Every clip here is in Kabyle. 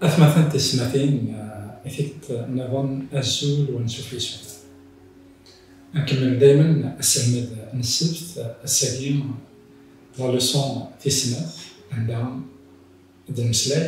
Atmaten tismatin i t-id-nniḍen azul u ansuf yis-went. Nkemmel daymen aselmed n ssebt, ass-agi d la leçon tis snat anda d-nemmeslay,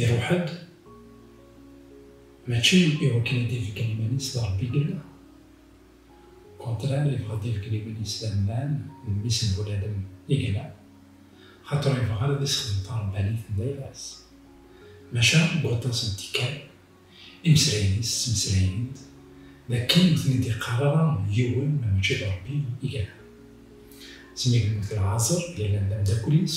Iruḥ-d, mačči i wakken ad d-ibeggen iman-is d Ṛebbi i yella, ukontrar yebɣa ad d-ibeggen iman-is d Amman, d mmi-s n Buladem i yella, xaṭer ur yebɣi ara ad issexdem taṛebbanit n baba-s. Maca deg waṭas n tikkal, imeslayen-is ttmeslayen-d d akken ur ten-id-iqqar ara yiwen ma mačči d Ṛebbi i yella. Smi yemmut Lɛazer, yellan d ameddakel-is.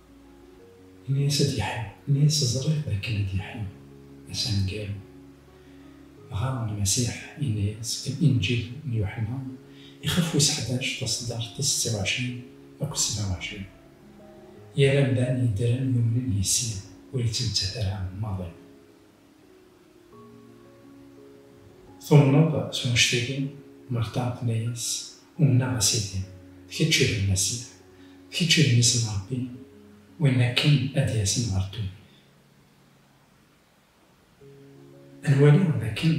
Ini-as ad yeḥlu, ini-as ẓriɣ d akken ad yeḥlu, ass aneggaru. Dɣa Lmasiḥ yenna-as deg Inǧil n Yuḥenna, ixef wis ḥdac, taṣeddart tis setti uɛecrin akked sebɛa uɛecrin, Yal amdan yeddren yumnen yis-i, ur yettmettat ara maḍi. Tumneḍ s wanect-agi? Marṭa tenna-yas, Umneɣ, a Sidi, d kečč i d Lmasiḥ, d kečč i d Mmi-s n Ṛebbi, win akken ad d-yasen ɣer ddunit. Ad nwali dakken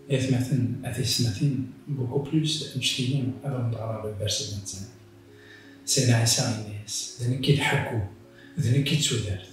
d atmaten a tiyesmatin, beaucoup plus d amect-igi, ad awent ɣreɣ deg Bercy de Nazareth. Sidna Ɛisa yenna-yas, D nekk i d ḥeggu, d nekk i d tudert.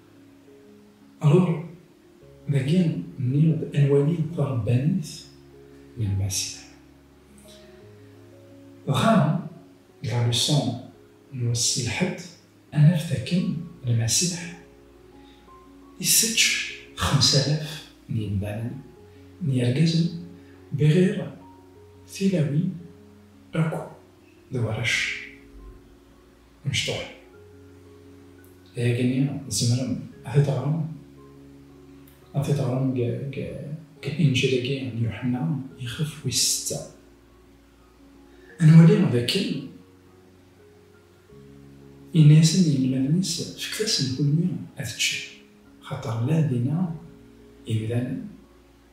Alors, dagi nniɣ-d ad nwali tarebbanit n lmasla. Dɣa, la leçon n wass n lḥedd, ad naf dakken Lmasiḥ isečč xemsalaf n yimdanen, n yergazen, bɣir tilawin akk d warrac. Mecṭuḥ. Dagi-nni tzemrem ad t-id-teɣrem, ad t-id-teɣrem deg Inǧil-agi n Yuḥenna ixef wis setta. Ad nwali dakken yenna-yasen i yinelmaden-is, Fket-asen kulmi ad ččen, axaṭer llan dinna yemdanen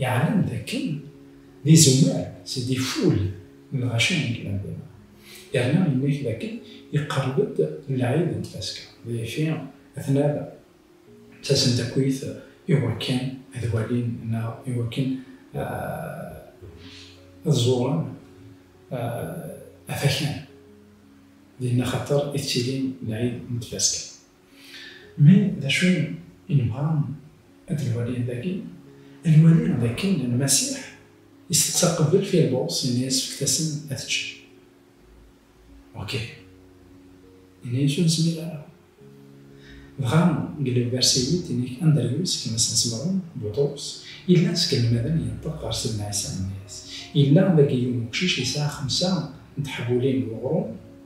Yeɛlem d akken d izemmar seg iful n lɣaci n Granvela, yerna yenna-k d akken iqerreb-d lɛid n tfaska, d acu a tnal d tasendakwit i wakken ad walin neɣ i wakken ad ẓuren afakan dinna, xaṭer ittilin lɛid n tfaska. Mais d acu i nebɣa ad d-nwali dagi? Ad nwali d akken Lmasiḥ isteqsa qbel Filbus, yenna-yas fket-asen ad ččen. Ok. Yenna-yas ur nezmir ara. Dɣa deg lebda Siwit yenna-k Andryus, gma-s n Semɛun, Buṭrus, yellan seg inelmaden yenṭeq ɣer Sidna Ɛisa yenna-yas, Yella dagi yiwen uqcic yesɛa xemsa n teḥbulin n uɣrum,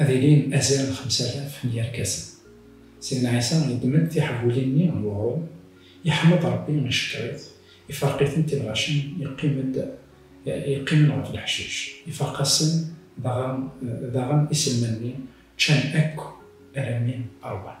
Ad ilin azal n xemsa alaf n yirkasen. Sidna Ɛisa yeddem-d tiḥebbulin-nni n weɣrum, yeḥmed Ṛebbi, icekkeṛ-it, iferq-itent i lɣaci yeqqim-d yeqqimen ɣef leḥcic, ifaq-asen, dɣa daɣen iselman-nni ččan akk alammi ṛwan.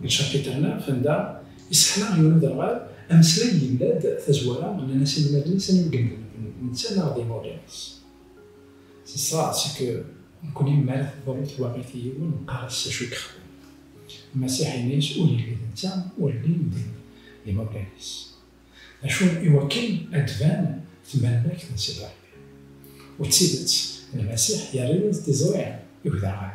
Deg tcapitr-nneɣ, Fenda isseḥla yiwen uderɣal ameslay yella-d tazwara nnan-as inelmaden-is anwa i yemedlen d netta neɣ d imawlan-is. C'est ça, c'est que nekni mi ara teḍru twaɣit i yiwen neqqar-as s acu i yexdem. Masiḥ ini-as ur yelli d netta ur llin d imawlan-is. D acu iwakken ad d-tban tmalmakt n Sidi Ṛebbi. U d tidet, Lmasiḥ yerra-yas-d tiẓri i uderɣal.